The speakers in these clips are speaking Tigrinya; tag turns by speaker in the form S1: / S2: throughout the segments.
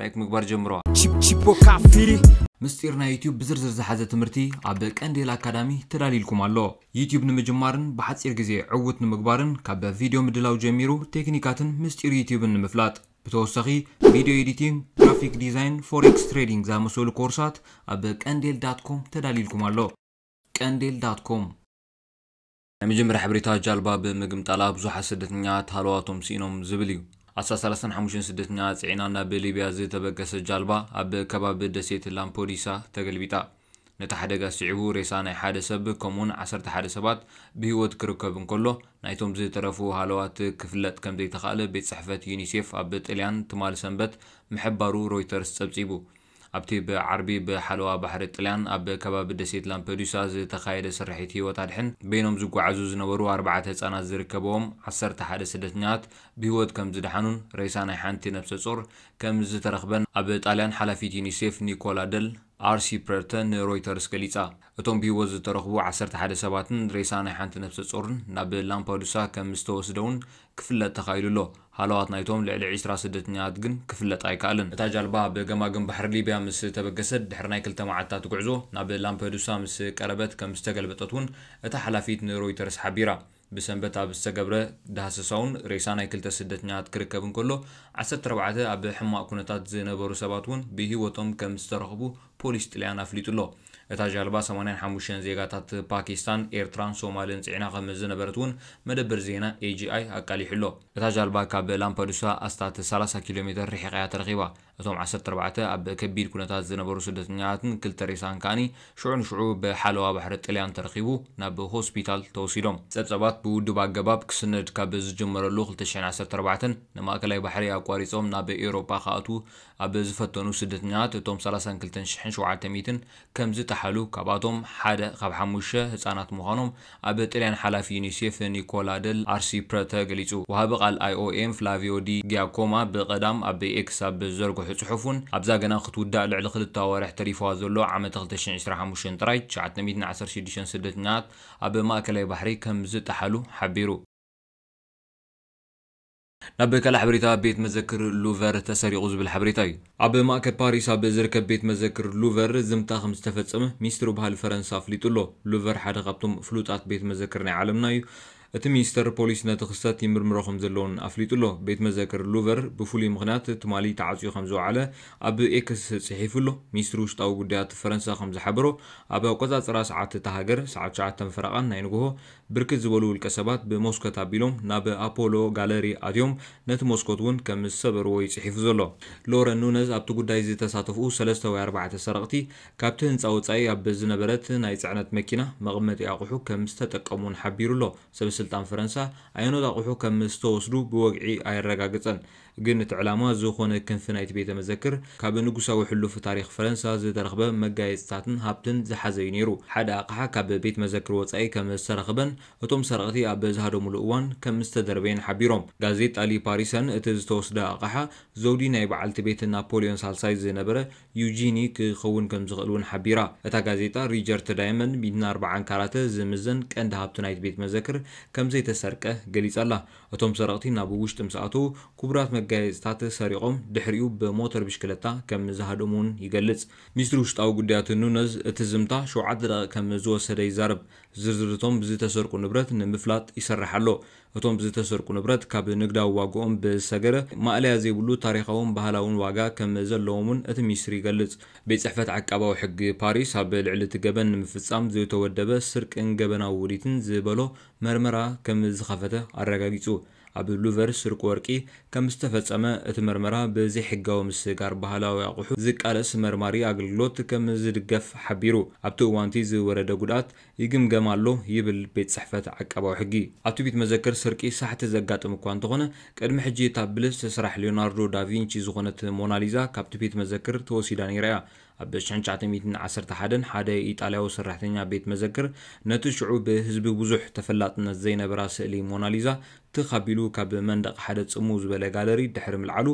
S1: ላይክ ምግባር ጀምሮ። Chip Chipo Kafiri
S2: ምስጢር ናይ ዩትዩብ
S1: ብዝርዝር ዝሓዘ ትምህርቲ ኣብ ቀንዴል ኣካዳሚ ተዳልዩልኩም ኣሎ። ዩትዩብ ንምጅማርን ብሓጺር ግዜ ዕዉት ንምግባርን ካብ ቪድዮ ምድላው ጀሚሩ ቴክኒካትን ምስጢር ዩትዩብን ንምፍላጥ ብተወሳኺ ቪድዮ ኤዲቲንግ፣ ግራፊክ ዲዛይን፣ ፎሬክስ ትሬዲንግ ዝኣመሰሉ ኮርሳት ኣብ ቀንዴል ዳት ኮም ተዳልዩልኩም ኣሎ። ቀንዴል ዳት ኮም። ናይ መጀመርያ ሓበሬታ ጃልባ ብምግምጣላ ብዙሓት ስደተኛታት ሃለዋቶም ስኢኖም ዝብል እዩ። ኣስታት ሰላሳን ሓሙሽተን ስደተኛታት ጽዒና ናብ ሊብያ ዝተበገሰት ጃልባ ኣብ ከባቢ ደሴት ላምፐዱሳ ተገልቢጣ። ነቲ ሓደጋ ስዒቡ ሬሳ ናይ ሓደ ሰብ ከምኡ'ውን ዓሰርተ ሓደ ሰባት ብህይወት ክርከብ እንከሎ ናይቶም ዝተረፉ ሃለዋት ክፍለጥ ከምዘይተኻእለ ቤት ጽሕፈት ዩኒሴፍ ኣብ ጥልያን ትማል ሰንበት ምሕባሩ ሮይተርስ ጸብጺቡ። ኣብቲ ብዓርቢ ብሓለዋ ባሕሪ ጥልያን ኣብ ከባቢ ደሴት ላምፐዱሳ ዝተኻየደ ስርሒት ህይወት ኣድሕን በይኖም ዝጓዓዙ ዝነበሩ ኣርባዕተ ህጻናት ዝርከበዎም ዓሰርተ ሓደ ስደተኛታት ብህይወት ከምዝደሓኑን ሬሳ ናይ ሓንቲ ነብሰጾር ከምዝተረኽበን ኣብ ጣልያን ሓላፊት ዩኒሴፍ ኒኮላ ደል ኣርሲፕረርተ ንሮይተርስ ገሊጻ። እቶም ብህይወት ዝተረኽቡ ዓሰርተ ሓደ ሰባትን ሬሳ ናይ ሓንቲ ነፍሰጾርን ናብ ላምፓዱሳ ከም ዝተወስደ'ውን ክፍለጥ ተኻኢሉ ኣሎ። ሃለዋት ናይቶም ልዕሊ ዕስራ ስደተኛታት ግን ክፍለጥ ኣይከኣለን። እታ ጃልባ ኣብ ገማግም ባሕሪ ሊብያ ምስ ተበገሰት ድሕሪ ናይ ክልተ መዓልትታት ጉዕዞ ናብ ላምፐዱሳ ምስ ቀረበት ከም ዝተገልበጠት'ውን እታ ሓላፊት ንሮይተርስ ሓቢራ። ብሰንበት ኣብ ዝተገብረ ዳህሰሳ'ውን ሬሳ ናይ ክልተ ስደተኛታት ክርከብ እንከሎ፣ ዓሰርተ ኣርባዕተ ኣብ ሕማቕ ኩነታት ዝነበሩ ሰባት'ውን ብህይወቶም ከም ዝተረኽቡ ፖሊስ ጥልያን ኣፍሊጡ'ሎ። እታ ጃልባ ሰማንያን ሓሙሽተን ዜጋታት ፓኪስታን፣ ኤርትራን ሶማልን ጽዒና ከም ዝነበረት'ውን መደበር ዜና AGI ኣቃሊሑ'ሎ። እታ ጃልባ ካብ ላምፐዱሳ ኣስታት ሰላሳ ኪሎሜተር ርሒቓ'ያ ተረኺባ። እቶም ዓሰርተ ኣርባዕተ ኣብ ከቢድ ኩነታት ዝነበሩ ስደተኛታትን ክልተ ሬሳን ከኣ ሽዑ ንሽዑ ብሓለዋ ባሕሪ ጥልያን ተረኺቡ ናብ ሆስፒታል ተወሲዶም። ጸብጻባት ብውዱብ ኣገባብ ክስነድ ካብ ዝጀመረሉ ክልተ ሽሕን ዓሰርተ ኣርባዕተን ንማእከላይ ባሕሪ ኣቋሪጾም ናብ ኤውሮጳ ክኣትዉ ኣብ ዝፈተኑ ስደተኛታት እቶም ሰላሳን ክልተን ሽሕን ሸውዓተ ሚእትን ከምዝጠሓሉ ካብኣቶም ሓደ ካብ ሓሙሽተ ህጻናት ምዃኖም ኣብ ጥልያን ሓላፊ ዩኒሴፍ ኒኮላ ደል ኣርሲፕረተ ገሊጹ። ወሃቢ ቃል ኣይኦኤም ፍላቪዮ ዲ ጊያኮማ ብቀዳም ኣብ ኤክስ ኣብ ዝዘርግሖ ጽሑፍ'ውን ኣብዛ ገና ክትውዳእ ልዕሊ ክልተ ኣዋርሕ ተሪፍዋ ዘሎ ዓመተ ክልተ ሽሕን ዕስራን ሓሙሽተን ጥራይ ትሽዓተ ሚእትን ዓሰርተ ሽዱሽተን ስደተኛታት ኣብ ማእከላይ ባሕሪ ከምዝጠሓሉ ሓቢሩ። ናብ ካልእ ሓበሬታ ቤት መዘክር ሉቨር ተሰሪቑ ዝብል ሓበሬታ እዩ። ኣብ ማእከል ፓሪስ ኣብ ዝርከብ ቤት መዘክር ሉቨር ዝምታ ከም ዝተፈጸመ ሚኒስትሪ ባህሊ ፈረንሳ ኣፍሊጡ ኣሎ። ሉቨር ሓደ ካብቶም ፍሉጣት ቤት መዘክር ናይ ዓለምና እዩ። እቲ ሚኒስተር ፖሊስ ነቲ ክስተት ይምርምሮ ከም ዘሎ'ውን ኣፍሊጡ ኣሎ። ቤት መዘክር ሉቨር ብፍሉይ ምኽንያት ትማሊ ተዓጽዩ ከም ዝወዓለ ኣብ ኤክስ ጽሒፉ ኣሎ። ሚኒስትሪ ውሽጣዊ ጉዳያት ፈረንሳ ከም ዝሓበሮ ኣብ ኣቆጻጽራ ሰዓት እታ ሃገር ሰዓት ትሽዓተን ፈረቓን ናይ ንግሆ ብርክት ዝበሉ ውልቀ ሰባት ብሞስኮት ኣቢሎም ናብ ኣፖሎ ጋለሪ ኣትዮም ነቲ ሞስኮት እውን ከም ዝሰበርዎ እዩ ፅሒፉ ዘሎ። ሎረን ኑነዝ ኣብቲ ጉዳይ ዝተሳተፍኡ ሰለስተ ወይ ኣርባዕተ ሰረቕቲ ካብቲ ህንፃ ወፃኢ ኣብ ዝነበረት ናይ ፅዕነት መኪና መቐመጢ ኣቑሑ ከም ዝተጠቀሙ እውን ሓቢሩ ኣሎ። ሰበስልጣን ፈረንሳ ኣየኖት ኣቑሑ ከም ዝተወስዱ ብወግዒ ኣየረጋገፀን። ግን እቲ ዕላማ ዝኾነ ክንፊ ናይቲ ቤተ መዘክር ካብ ንጉሳዊ ሕሉፍ ታሪኽ ፈረንሳ ዝተረኽበ መጋየጽታትን ሃብትን ዝሓዘ እዩ ነይሩ። ሓደ ኣቕሓ ካብ ቤት መዘክር ወጻኢ ከም ዝተረኽበን እቶም ሰረቕቲ ኣብ ዝሃደሙሉ እዋን ከም ዝተደርበየን ሓቢሮም። ጋዜጣ ሊ ፓሪሰን እቲ ዝተወስደ ኣቕሓ ዘውዲ ናይ በዓልቲ ቤት ናፖልዮን ሳልሳይ ዝነበረ ዩጂኒ ክኸውን ከም ዝኽእል እውን ሓቢራ። እታ ጋዜጣ ሪጀርት ዳይመንድ ሚእትን ኣርባዓን ካራተ ዝምዘን ቀንዲ ሃብቲ ናይቲ ቤት መዘክር ከም ዘይተሰርቀ ገሊጻ ኣላ። እቶም ሰረቕቲ ናብ ውሽጢ ምስ ኣተዉ ክቡራት መጋየጺታት ሰሪቖም ድሕሪኡ ብሞተር ብሽክለታ ከም ዝሃደሙ'ውን ይገልጽ። ሚኒስትሪ ውሽጣዊ ጉዳያት ኑነዝ እቲ ዝምታ ሸውዓተ ደቒቕ ከም ዝወሰደ ይዛረብ። ዝርዝር እቶም ዝተሰርቁ ንብረት ንምፍላጥ ይስራሕ ኣሎ። እቶም ዝተሰርቁ ንብረት ካብ ንግዳዊ ዋግኦም ብዝሰገረ ማእለያ ዘይብሉ ታሪኻውን ባህላውን ዋጋ ከም ዘለዎም'ውን እቲ ሚኒስትሪ ይገልጽ። ቤት ጽሕፈት ዓቃባዊ ሕጊ ፓሪስ ኣብ ልዕሊ እቲ ገበን ንምፍጻም ዝተወደበ ስርቅን ገበናዊ ውዲትን ዝበሎ መርመራ ከም ዝኸፈተ ኣረጋጊጹ። ኣብ ሉቨር ስርቂ ወርቂ ከም ዝተፈጸመ እቲ መርመራ ብዘይሕጋዊ ምስግጋር ባህላዊ ኣቑሑ ዝቃለስ መርማሪ ኣገልግሎት ከም ዝድገፍ ሓቢሩ። ኣብቲ እዋን'ቲ ዝወረደ ጉድኣት ይግምገም ኣሎ ይብል ቤት ጽሕፈት ዓቃባዊ ሕጊ። ኣብቲ ቤት መዘክር ስርቂ ሳሕቲ ዘጋጥም እኳ እንተኾነ፣ ቅድሚ ሕጂ እታ ብልጽቲ ስራሕ ሊዮናርዶ ዳቪንቺ ዝኾነት ሞናሊዛ ካብቲ ቤት መዘክር ተወሲዳ ነይራ እያ። ኣብ ሽሕን ትሽዓተ ሚእትን ዓሰርተ ሓደን ሓደ ኢጣልያዊ ሰራሕተኛ ቤት መዘክር ነቲ ሽዑ ብህዝቢ ብዙሕ ተፈላጥነት ዘይነበራ ስእሊ ሞናሊዛ ትኽ ኣቢሉ ካብ መንደቕ ሓደ ጽምው ዝበለ ጋለሪ ድሕሪ ምልዓሉ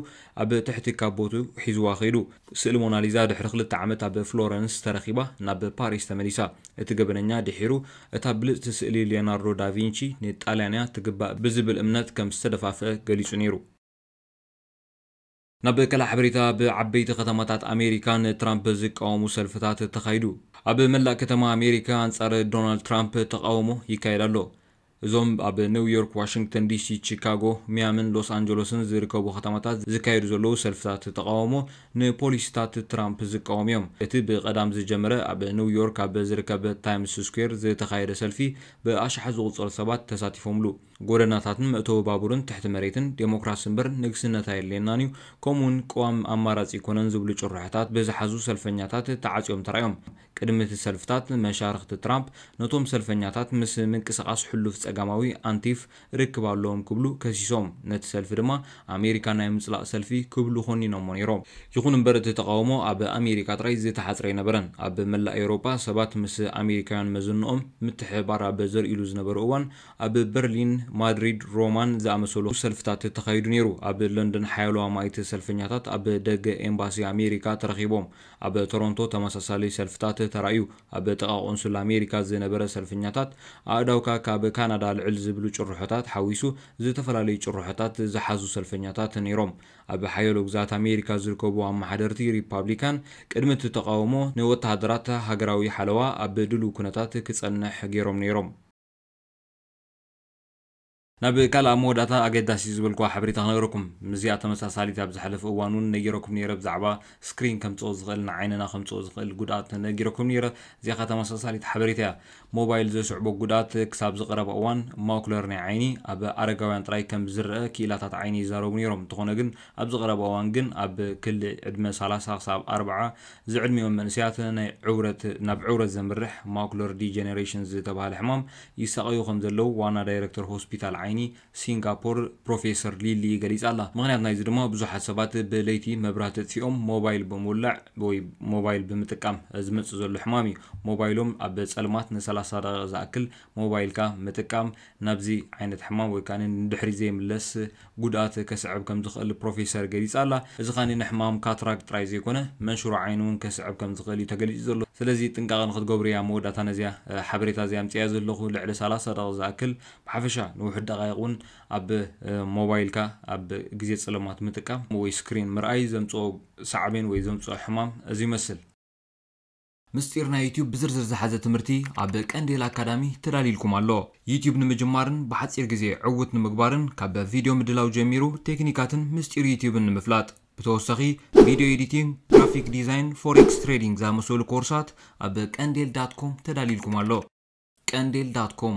S1: ኣብ ትሕቲ ካቦቱ ሒዝዋ ከይዱ። ስእሊ ሞናሊዛ ድሕሪ ክልተ ዓመት ኣብ ፍሎረንስ ተረኺባ ናብ ፓሪስ ተመሊሳ። እቲ ገበነኛ ድሒሩ እታ ብልጽቲ ስእሊ ሊዮናርዶ ዳቪንቺ ንጣልያን'ያ ትግባእ ብዝብል እምነት ከም ዝተደፋፍአ ገሊጹ ነይሩ። ናብ ካልእ ሓበሬታ ኣብ ዓበይቲ ከተማታት ኣሜሪካ ንትራምፕ ዝቃወሙ ሰልፍታት ተኻይዱ። ኣብ መላእ ከተማ ኣሜሪካ ኣንጻር ዶናልድ ትራምፕ ተቓውሞ ይካየድ ኣሎ። እዞም ኣብ ኒው ዮርክ፣ ዋሽንግተን ዲሲ፣ ቺካጎ፣ ሚያምን ሎስ ኣንጀሎስን ዝርከቡ ከተማታት ዝካየዱ ዘለዉ ሰልፍታት ተቓውሞ ንፖሊሲታት ትራምፕ ዝቃወሙ እዮም። እቲ ብቀዳም ዝጀመረ ኣብ ኒው ዮርክ ኣብ ዝርከብ ታይምስ ስኩዌር ዝተኻየደ ሰልፊ ብኣሽሓት ዝቑጸሩ ሰባት ተሳቲፎምሉ። ጎደናታትን መእተዊ ባቡርን ትሕቲ መሬትን፣ ዴሞክራሲ እምበር ንግስነት ኣየድልየናን እዩ፣ ከምኡ'ውን ቅዋም ኣማራጺ ኣይኮነን ዝብሉ ጭርሖታት ብዝሓዙ ሰልፈኛታት ተዓጽዮም ተራእዮም። ቅድሚ እቲ ሰልፍታት፣ መሻርኽቲ ትራምፕ ነቶም ሰልፈኛታት ምስ ምንቅስቓስ ሕሉፍ ጸጋማዊ፣ ኣንቲፍ፣ ርክብ ኣለዎም ክብሉ ከሲሶም፣ ነቲ ሰልፊ ድማ ኣሜሪካ ናይ ምጽላእ ሰልፊ ክብሉ ኾኒኖሞ ነይሮም። ይኹን እምበር እቲ ተቓውሞ ኣብ ኣሜሪካ ጥራይ ዝተሓጽረ ኣይነበረን። ኣብ መላእ ኤውሮጳ ሰባት ምስ ኣሜሪካውያን መዘንኦም ምትሕብባር ኣብ ዘርእይሉ ዝነበሩ እዋን፣ ኣብ በርሊን፣ ማድሪድ፣ ሮማን ዝኣመሰሉ ሰልፍታት ተኻይዱ ነይሩ። ኣብ ለንደን ሓያሎ ኣማኢት ሰልፈኛታት ኣብ ደገ ኤምባሲ ኣሜሪካ ተረኺቦም። ኣብ ቶሮንቶ ተመሳሳሊ ሰልፍታት ተራእዩ። ኣብ ጥቓ ቆንሱል ኣሜሪካ ዝነበረ ሰልፈኛታት፣ ኣእዳውካ ካብ ካናዳ ኣልዕል ዝብሉ ጭርሖታት ሓዊሱ ዝተፈላለዩ ጭርሖታት ዝሓዙ ሰልፈኛታት ነይሮም። ኣብ ሓያሎ ግዝኣት ኣሜሪካ ዝርከቡ ኣመሓደርቲ ሪፓብሊካን ቅድሚ እቲ ተቓውሞ ንወተሃደራት ሃገራዊ ሓለዋ ኣብ ድሉው ኩነታት ክጸንሕ ገይሮም ነይሮም። ናብ ቃል ኣብ መወዳእታ ኣገዳሲ ዝበልኩዋ ሓበሬታ ክነግረኩም። ምስዚኣ ተመሳሳሊት ኣብ ዝሓለፈ እዋን ውን ነጊረኩም ኔረ ብዛዕባ ስክሪን ከምጽኦ ዝኽእል ንዓይንና ከምጽኦ ዝኽእል ጉድኣት ነጊረኩም ኔረ እዚኣ ከኣ ተመሳሳሊት ሓበሬታ እያ ሞባይል ዘስዕቦ ጉድኣት ክሳብ እዚ ቀረባ እዋን ማኩለር ናይ ዓይኒ ኣብ ኣረጋውያን ጥራይ ከም ዝረኣ ክኢላታት ዓይኒ ይዛረቡ ኔሮም እንተኾነ ግን ኣብዚ ቀረባ እዋን ግን ኣብ ክሊ ዕድመ ሰላሳ ክሳብ ኣርብዓ ዝዕድሚኦም መንእሰያት ናይ ዕውረት ናብ ዕውረት ዘምርሕ ማኩለር ዲጀነሬሽን ዝተብሃለ ሕማም ይሳቐዩ ከም ዘለዉ ዋና ዳይረክተር ሆስፒታል ዓይኒ ሲንጋፖር ፕሮፌሰር ሊ ሊ ገሊጻ ኣላ። ምኽንያት ናይዚ ድማ ብዙሓት ሰባት ብለይቲ መብራህቲ ኣጥፊኦም ሞባይል ብምውላዕ ወይ ሞባይል ብምጥቃም ዝመጽእ ዘሎ ሕማም እዩ። ሞባይሎም ኣብ ጸልማት ንሰላሳ ደቒቕ ዝኣክል ሞባይልካ ምጥቃም ናብዚ ዓይነት ሕማም ወይ ከኣ ንድሕሪት ዘይምለስ ጉድኣት ከስዕብ ከም ዝኽእል ፕሮፌሰር ገሊጻ ኣላ። እዚ ከኣ ንሕማም ካትራክት ጥራይ ዘይኮነ መንሽሮ ዓይኒ እውን ከስዕብ ከም ዝኽእል እዩ ተገሊጹ ዘሎ። ስለዚ ጥንቃቐ ንኽትገብሩ እየ ኣብ መወዳእታ ነዚኣ ሓበሬታ እዚኣ ኣምጺኣያ ዘለኹ። ልዕሊ ሰላሳ ደቒቕ ዝኣክል ብሓፈሻ ንውሑድ ደቓይቕ እውን ኣብ ሞባይልካ ኣብ ግዜ ጸለማት ምጥቃም ወይ ስክሪን ምርኣይ ዘምጽኦ ሳዕቤን ወይ ዘምጽኦ ሕማም እዚ ይመስል።
S2: ምስጢር ናይ ዩትዩብ ብዝርዝር ዝሓዘ ትምህርቲ ኣብ ቀንዴል ኣካዳሚ ተዳልዩልኩም ኣሎ። ዩትዩብ ንምጅማርን ብሓጺር ግዜ ዕዉት ንምግባርን ካብ ቪድዮ ምድላው ጀሚሩ ቴክኒካትን ምስጢር ዩትዩብን ንምፍላጥ ብተወሳኺ ቪድዮ ኤዲቲንግ፣ ግራፊክ ዲዛይን፣ ፎሬክስ ትሬዲንግ ዝኣመሰሉ ኮርሳት ኣብ ቀንዴል ዳት ኮም ተዳልዩልኩም ኣሎ። ቀንዴል ዳት ኮም።